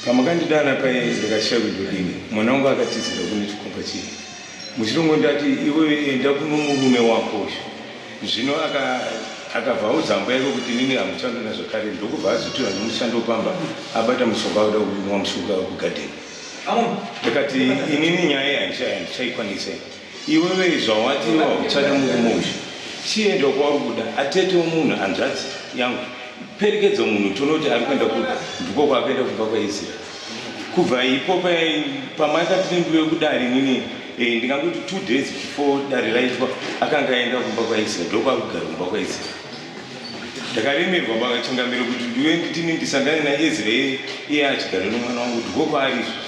pamakandidana paye ndakashaya kuti ndodini mwana wangu akatizira kune chikomba chii muchirongo ndati iwe enda kuno murume wako uyu zvino akabva audzamba yake kuti nini hamushando nazvakare ndokubva azotora nemushando pamba abata mushonga akuda kuinwa mushonga kugadheni ndakati inini nyaya yandichaikwanisa Iwewe zvawati wauchada murume uyu chienda kwauri kuda atete wemunhu hanzvadzi yangu perekedzo munhu tione kuti ari kuenda kuda ndiko kwakuenda kumba kwaizira kubva ipo pamaikatindwe kudari nini eh, ndingakuti two days before dare raitwa akanga aenda kumba kwaizira ndokwakugara kumba kwaizira ndakaremerwa pachingamiro kuti ndiwe nditini ndisangane naezira iye achigara nomwana wangu ndiko kwaari izvozvo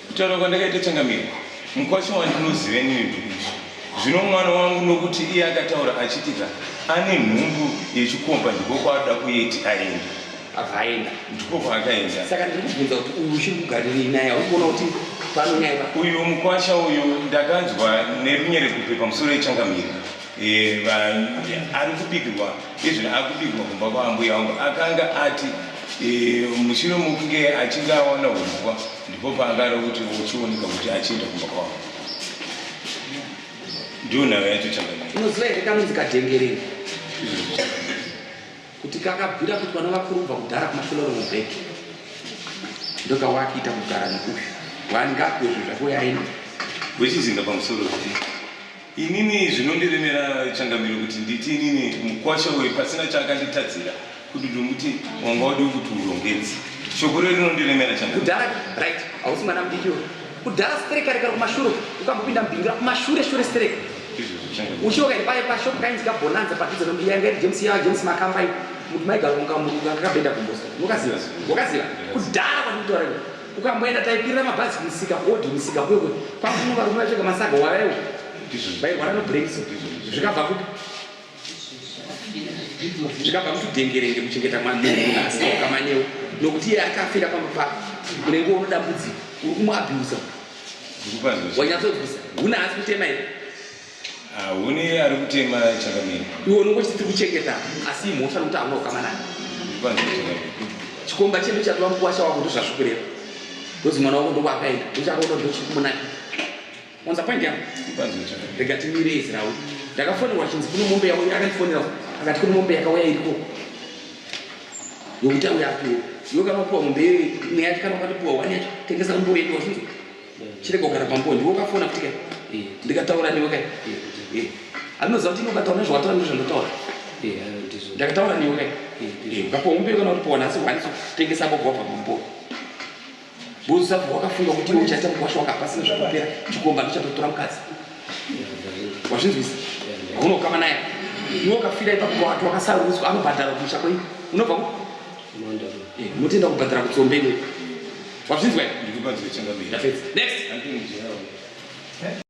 Kutaura kwandakaita changamire mukwasha wandinozive nini ndikuti zvino mwana wangu nokuti iye akataura achitika ane nhumbu yechikomba ndiko kwaadoda kuyeti aenda akaenda ndiko kwaakaenda saka ndiri kubvunza kuti uyu uchiri kugarirei naye aukuona kuti pano nyaya pa uyu mukwasha uyu ndakanzwa nerunyere kupe pamusoro yechangamire Eh, va- ari kubikirwa izvino akubikirwa kumba kwaambuya wangu akanga ati eh, mushure mokunge achinge awana humbwa Ndipo paakada kuti uchioneka kuti achienda kumba kwavo. Ndiyo nhau yacho changanya. Unoziva here kanonzi kadengereni? Kuti kakabvira kuti vana vakurubva kudhara kumafiloro mubheki. Ndokawakiita kugara nekufi. Wani ngapi wezvo zvako yaenda. Wechizinga pamusoro zvi. Inini zvinondiremera changamiro kuti nditi inini mukwasha uyu pasina chaakanditadzira kuti ndomuti wanga wadiwo kuti urongedzi shoko rero rinondiremera changamiro kudhara right hausi mwana mudiki uyu kudhara stereka rekara kumashure ukambopinda mubingira kumashure shure stereka uchiwo kaiti paye pashop kainzi kabonanza padhuze nombiya yanga iri james yava james makamba iyi muti maigaronga muruka kakabenda kumbosa unokaziva wakaziva kudhara kwandikutaura iwe ukamboenda taipirira mabhazi kumusika kuodhi musika kwekwe kwakuno varume vachoka masaga wavaiwo vairwara nobrengisa zvikabva kupi zvikabva kuti dengerenge kuchengeta mwanunasi ukamanyewo nokuti iye akafira pamba pako unenge unodambudzika uri kumuabhusa wanyatsonzwisa huna asi kutema here Ah, huni ari kutema chakamira. Iwe unongo chiti kuchengeta asi imhosva nokuti hauna ukama naye. Chikomba chedu chatova mukuwasha wako ndozvazvikureva. Ndozi mwana wako ndokwakaenda uchakaona ndochiri kumunaki. Wanza point yangu? Rega timire izira uyu. Ndakafonerwa chinzi kune mombe yauya akandifonera akati kune mombe yakauya iriko. Yokuti auya apiwe. Yoka mapuwa mombe iyoyi imwe yacho kana ukatipuwa wani yacho tengesa umboenda wazvinzwa. chirega kugara pambo ndiwe ukafona kuti kai eh, ndikataura newe kai eh, anoziva kuti inokataura nezvawataura nezvandotaura ndakataura newe kai ukapombe kana kuti pona asi hwaniso tengesa bobva pambo buza wakafunga kuti iwe uchaita mukwasha wakapasina zvakupera chikomba ndichatotora mukadzi wazvinzwisa unokama naye iwe ukafira ipapo watu wakasarudzwa anobhadhara kumusha kwei unobva Eh, mutoenda kubhadhara kutsombe wazvinzwa next